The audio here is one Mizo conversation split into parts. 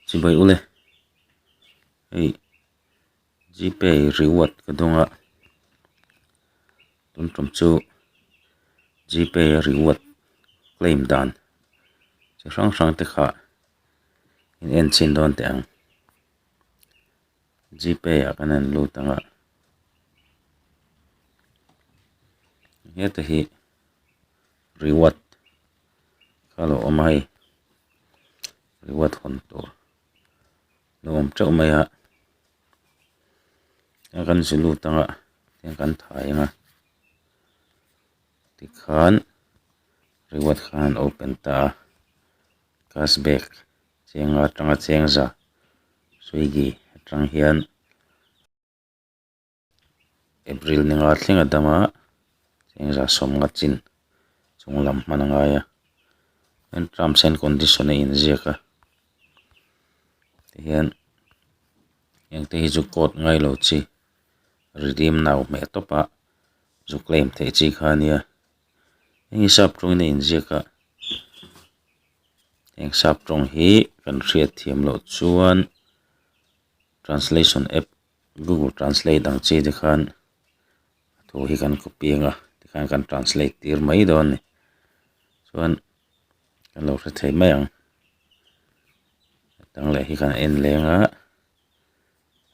Chibai ule hei gpay reward ka dawng a tum tawm chu gpay a reward claim dan chi hrang hrang te kha in en chin dawn teh ang gpay ah ka rawn lut ang a heta hi-- reward kha a lo awm a hei reward hawn tur ni awm teuh mai a a kan zui lut angah heng kan thai anga tikhan reward khan an open ta a cash back chenga atanga chengza swiggy atang hian-- April ni nga thleng a dam a engzah sawmnga chin chung lam hman a ngai a chuan terms and condition a inziak a tihian hengte hi chu court ngai lo chi redeem now hmeh tawp a zu claim theih chi kha nia heng hi sap tawngin a inziak a heng sap tawng hi kan hriat thiam loh chuan translation app -- google translate ang chi te khan thu hi kan copy anga tikhan kan translate tir mai dawn a ni chuan kan lo hre thei mai ang hetang leh hi kan en leng a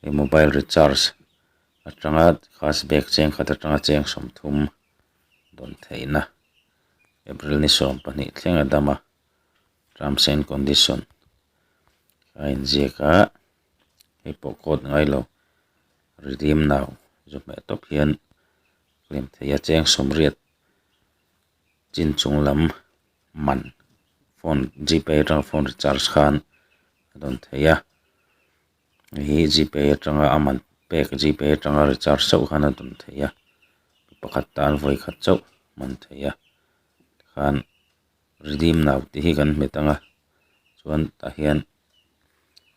hei mobile recharge atanga cash back cheng khat atanga cheng sawmthum dawn theihna April ni sawm pahnih thleng a dam a terms and condition a inziak a. hei pawh code ngailo redeem now zâwk hmeh tawp hian hlim thei a cheng sawm riat chin chung lam man phone g pay aṭanga phone recharge khan a dawn thei a hei hi g pay aṭanga a man pek g pay aṭanga recharge chauh khan a dawn thei a mi pakhat tan vawi khat chauh a hman thei a tikhan-- redeem nau tih hi kan hmet ang a chuan tah hian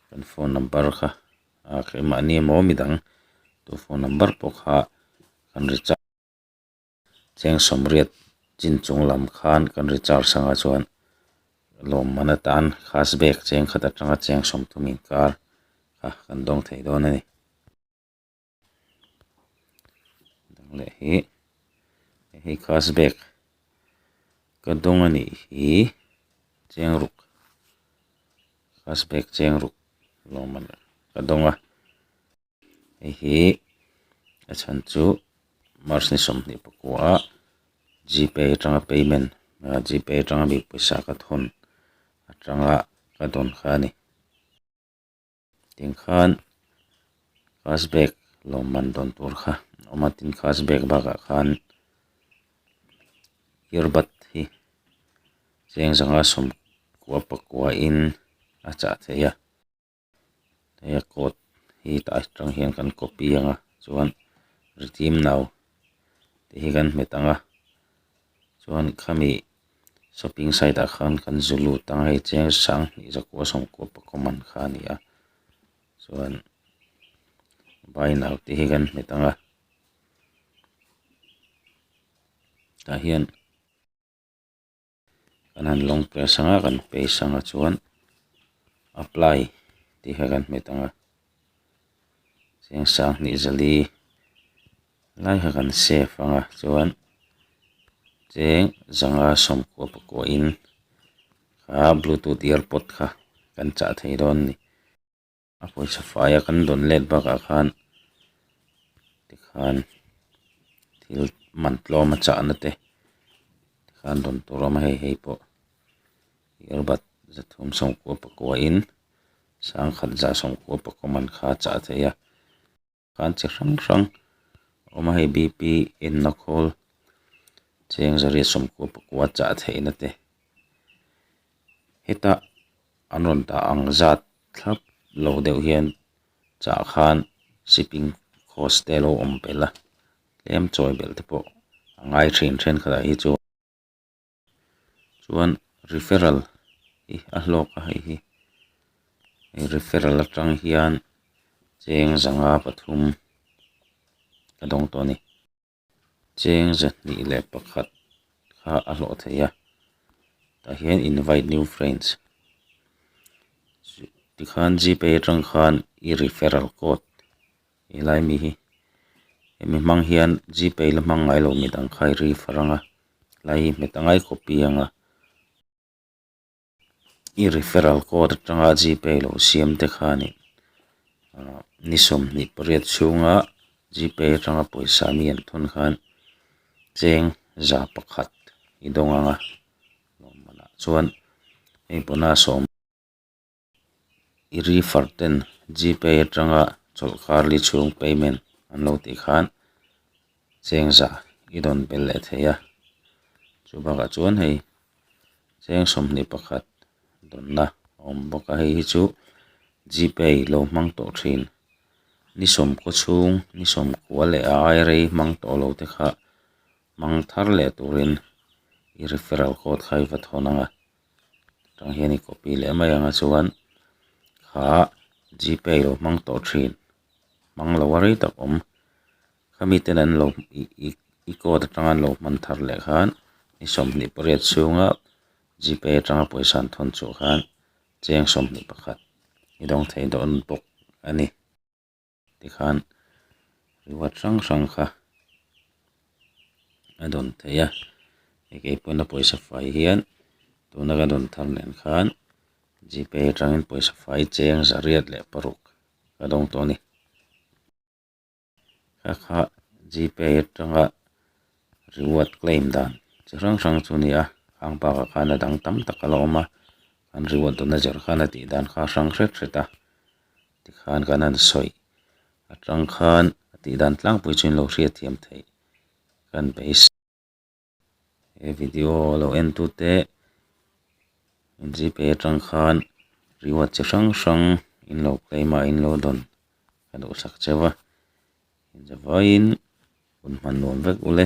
kan phone number kha ah mahni emaw midang tu phone number pawh kha kan recharge cheng sawmriat chin chung lam khan kan recharge ang a chuan lawmman atan cash back cheng khat atanga cheng sawmthum inkar kha kan dawng thei dawn a ni. dang leh hi hei hi khass bag ka dawng a nih hi cheng ruk khass bag cheng ruk lawmman ka dawng a hei hi a chhan chu march ni sawmhnih pakua a g pay atanga payment g pay atanga mi pawisa ka thawn atanga ka dawn kha a ni. tin khan cast bag lawmman dawn tur kha a awm a tin cast bag bakah khan ear bud hi cheng zanga sawmkua pakua in a chah theih a hei a coat hi tah aṭang hian kan copy ang a chuan ritîmno tih hi kan hmet ang a chuan khami-- shopping site ah khan kan zu lut ang hei chiang hrang hnih zakua sawmkua pakua man kha a ni a chuan vai nau te hi kan hmu tang a tah hian kan han lawng peh sang a kan pei sang a chuan apply tih kha kan hmu tang a chiang hrang hnih zali. Lai kha kan safe anga chuan cheng zanga sawmkua pakua in kha bluetooth earpod kha kan chah thei dawn a ni a pawisa faia kan dawn let bakah khan tikhan thil man tlawm a chahna te tikhan dawn tur a awm a hei hei pawh earbud zathum sawmkua pakua in sangkhat za sawmkua pakua man kha a chah theih a. Kan che hrang hrang a awm a hei BP enna khawl cheng zariat sawmkua pakua chah theihna te heta an rawn tah ang zat thlap lo deuh hian chah khan shipping cost te a lo awm belh a tlem chawi belh te pawh a ngai thin thenkhatah hi chuan-- chuan referral hi a hlawk a hei hi he referral atang hian cheng zanga pathum ka dawng tawh a ni cheng za hnih leh pakhat kha a hlawh thei a tah hian invite new friends tikhan gpay atang khan i referral code -- he lai mi hi hemi hmang hian g pay la hmang ngailo mit ang kha i rif a rang a lai hi hme ta ngai copy ang a i referral code atanga g pay lo siam te khanin ah ni sawm hnih pariat chhunga g pay atanga pawisa mi an thun khan cheng za pakhat i dawng ang a lawmman ah chuan hei bonus a awm-- i ri far ten GPay atanga chawlh kar li chhung payment an lo tih khan cheng zah i dawn be leh thei a, chu bakah chuan hei cheng sawmhnih pakhat dawnna a awm bawk a, hei hi chu GPay lo hmang tawh thin ni sawmkaw chhung ni sawmkua leh a airei hmang tawh lo te kha hmang thar leh turin i referral code kha i va thawn ang a. tang hian i copy leh mai ang a chuan kha g pay lo hmang tawh thin hmang lo a rei tak awm khami ten an lo ih ih i code atang an lo hman thar leh khan i sawmhnih pariat chhunga g pay atanga pawisa an thawn chu khan cheng sawmhnih pakhat i dawng thei dawn bawk a ni. tikhan reward hrang hrang kha a dawn thei a hei keipawn a pawisa fai hian tuna ka dawn thar nen khan g pay atangin pawisa fai cheng zariat leh paruk ka dawng tawh a ni kha kha g pay atanga reward claim dan chi hrang hrang chu a ni a khang bakah khan a dang tam tak ala awm a an reward dawna zer khan a tih dan kha a hrang hret hret a. tikhan kan han sawi a tang khan a tih dan tlangpui chu in lo hriatthiam theih ka ni thei si he video lo en tu te in zui phei a tang khan reward chi hrang hrang in lo claim a in lo dawn ka duhsak che va inzavaiin hun hman nuam vek ule.